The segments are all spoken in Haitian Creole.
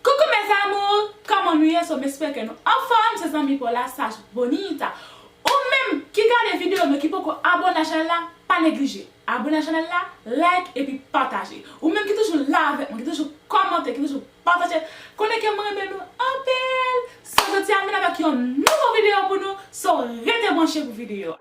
Coucou mes amours Kòman nou ye so m espè ke nou anfòm se zanmi paw la saj bonita ou menm ki gade video men ki poko abòne a chanèl la pa neglije abòne a chanèl la like epi pataje ou menm ki toujou la avèk mwen ki toujou kòmante ki toujou pataje konnen ke m renmen nou anpil So jodi a m vin avèk yon nouvo video pou nou so rete branche pou video a.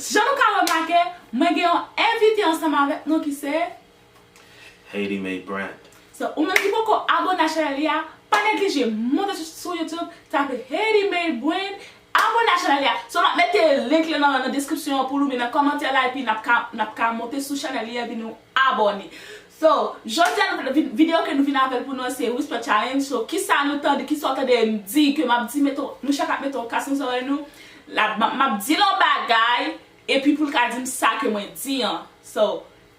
Jan nou ka remake mwen gen yon envite ansanm avèk nou ki se. Haiti made brand. So ou menm ki poko abone a chanel li a pa neglije monte sou YouTube tape Haiti made brand abone a chanel li a so map mete link lan nan description an pou nou oubyen nan kòmantè la epi nap ka nap ka monte sou chanel li a epi nou abone so jodi a nou video ke nou vin avèl pou nou an se whisper challenge so kisa nou tande kisa ou tande m di ke map di mete nou chak ap mete yon kas nan zòrèy nou la map dil yon bagay epi poul ka dim sa ke mwen di an so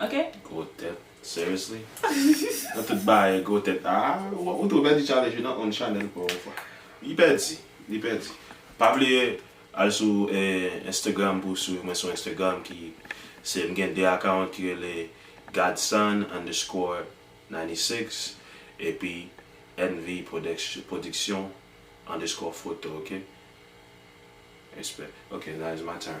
Ok. Gwo tèt seriously? Nan tout bagay gwo tèt aah ou tou pèdi challenge wi nan on channel paw on fwa li pèdi li pèdi pa bliye al sou Instagram pou swiv mwen sou Instagram ki se mgen 2 account ki rele Godson underscore 96 epi NV production underscore photo ok respect ok now is my turn.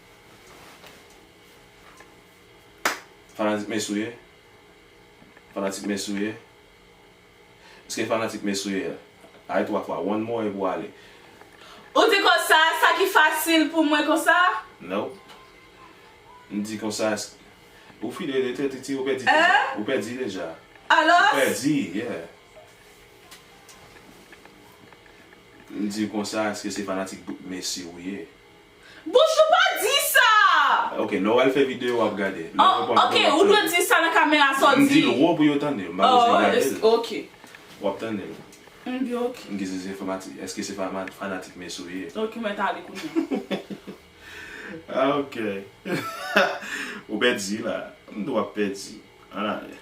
Fanatik Messi ou ye? Fanatik Messi ou ye? Eske fanatik Messi ou ye a? Ayi 3 fwa, one more epi w ale. Ou di konsa, sa ki fasil pou mwen konsa? Nope. M di konsa, eske. Ou fidèl e trèt iti, ou pèdi deja. Hein? Ou pèdi deja. Alos? Ou pèdi, yeah. M di konsa, eske se fanatik Messi ou ye? Bonjou pa di sa! Ok Noel fè video wap gade. Oh ok ou dwe di sa nan kamera sa w di. M dil wo pou yo tande m pa bezwen gade l. Oh ok. Wap tande l. M di ok. M gise se fanatik eske se fanatik mesi w ye. Ok mwen ta ale kounya. Ah ok ou pèdi la. M di wap pèdi an ale.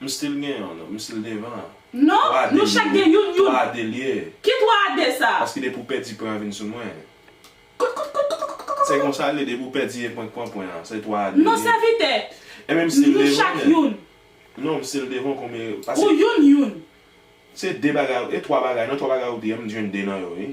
M still gen yon non. M still devan an. Non, nou chak gen youn youn. 3 a 2 l ye. Ki 3 a 2 sa? Paske depi w pèdi pwen an vin sou mwen. Koutkoutkoutkoutkoutkoutkout. Se konsa l ye, depi w pèdi e pwen k pran pwen an. Se 3 a 2 l ye. Non sèvitè. E men m still devan. Nou chak youn. Non, m still devan w konbyen yo. Ou youn youn. Se 2 bagay, e 3 bagay non, 3 bagay ou di an, m jwenn 2 nan yo wi.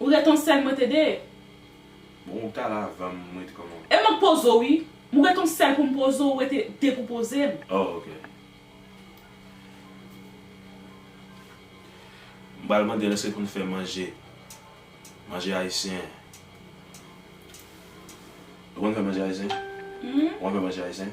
Ou ret on sèl mwen te de. Bon ou tal avanm mwen t kòman. E map poze w wi. M ret on sèl poum poze w ou rete de pou poze m. Oh ok. M pral mande l eske konn fè manje. Manje ayisyen. Ou konn fè manje ayisyen? Ou konn fè manje ayisyen?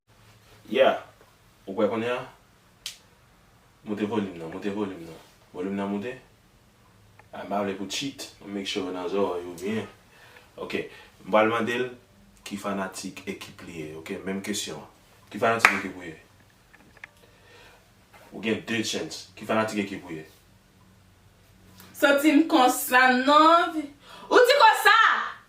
Yeah! Ou kwè kounye a? Moute volim nan, moute volim nan. Volim nan moute? M pa vle pou cheat, m make sure nan zorèy ou byen. Ok, m pral mande l ki fanatik ekip li ye, ok? Menm kesyon an. Ki fanatik ekip ou ye? Ou gen 2 chance. Ki fanatik ekip ou ye? Santi m konsa non. Ou di konsa!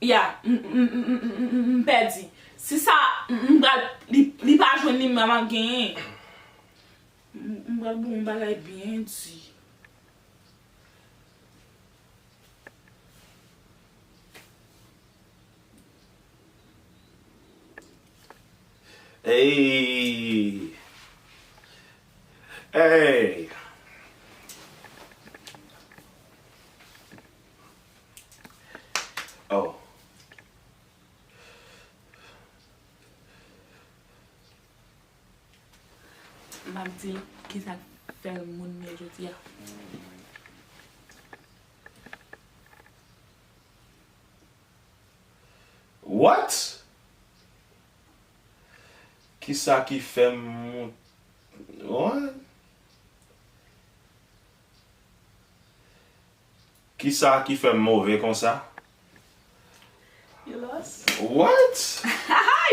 Ya m pèdi. Si sa m pral li pa jwenn li map genyen. M pral ba w yon bagay byen di. Eyy. Oh. Map di kisa fel moun mye jodia. What? Kisa ki fem moun What? Kisa ki fèm move konsa? You lost? What? Hi!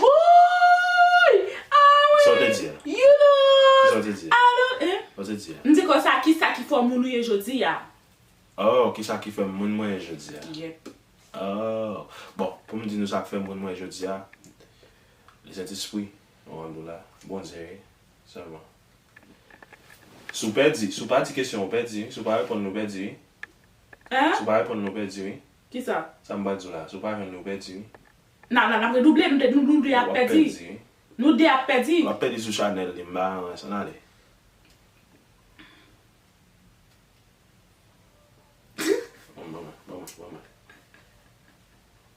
Wouyy! Ah wi! Sa w te di a? You lost! Kisa w te di a? I don't eh? Sa w te di a? M di konsa, kisa ki fè w moun ou ye jodi a? Oh, kisa ki fèm moun mwen ye jodi a? Yep. Oh. Bon, pou m di nou sa k fèm moun mwen jodi a, Lezentespri, Randoula, Bondye, sèlman. Si w pèdi, si w pa di kesyon an ou pèdi wi, si w pa reponn li ou pèdi wi. Si w pa reponn li ou pèdi wi. Kisa? Sa m pral di w la, si w pa jwenn li ou pèdi wi. Nan nan n ap redouble, nou 2 nou 2 ap pèdi. Nou 2 ap pèdi. Wap pèdi sou chanèl li, m pa nan rès an ale. Ban mwen, ban mwen, ban mwen.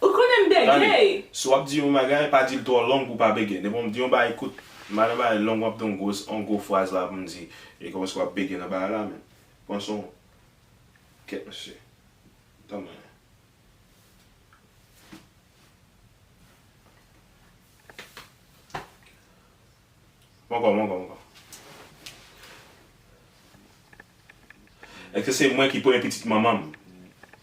Ou konnen m bègè! Tande, si w ap di yon bagay, pa di l twò long pou w pa bègè. Depi w di yon bagay kout, madan bagay long w ap di yon gwo, yon gwo fraz la pou m di, e kòmanse w ap bègè nan bagay la menm. Pran son w. Kèt mesye. Tann mwen. Bon ankò, bon ankò, bon ankò. Èske se mwen ki premye pitit manman m?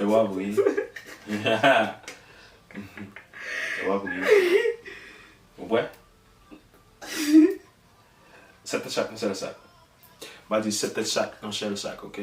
E wap ri. E wap ri. Ou bwè? Sèt tèt chak yon sèl sak. Ba di sèt tèt chak yon sèl sak ok.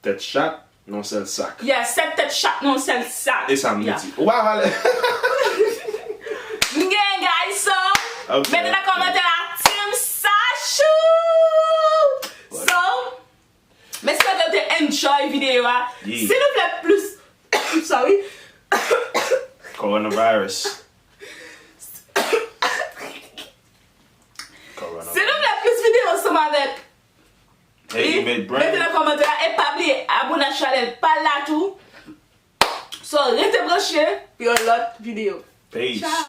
Tèt chat nan yon sèl sak. Yeah, 7 tèt chat nan yon sèl sak. E sa m vle di. Ou pa vale. M gen guys so mete nan kòmantè a team Sachou! So m espere w te enjoy videyo a. Si nou vle plis sorry Coronavirus Si nou vle plis videyo ansanm avèk Teddy make brain. Mete nan kòmantè a e pa bliye abone ak chanèl pal la tou so rete branche pou yon lòt video Peace.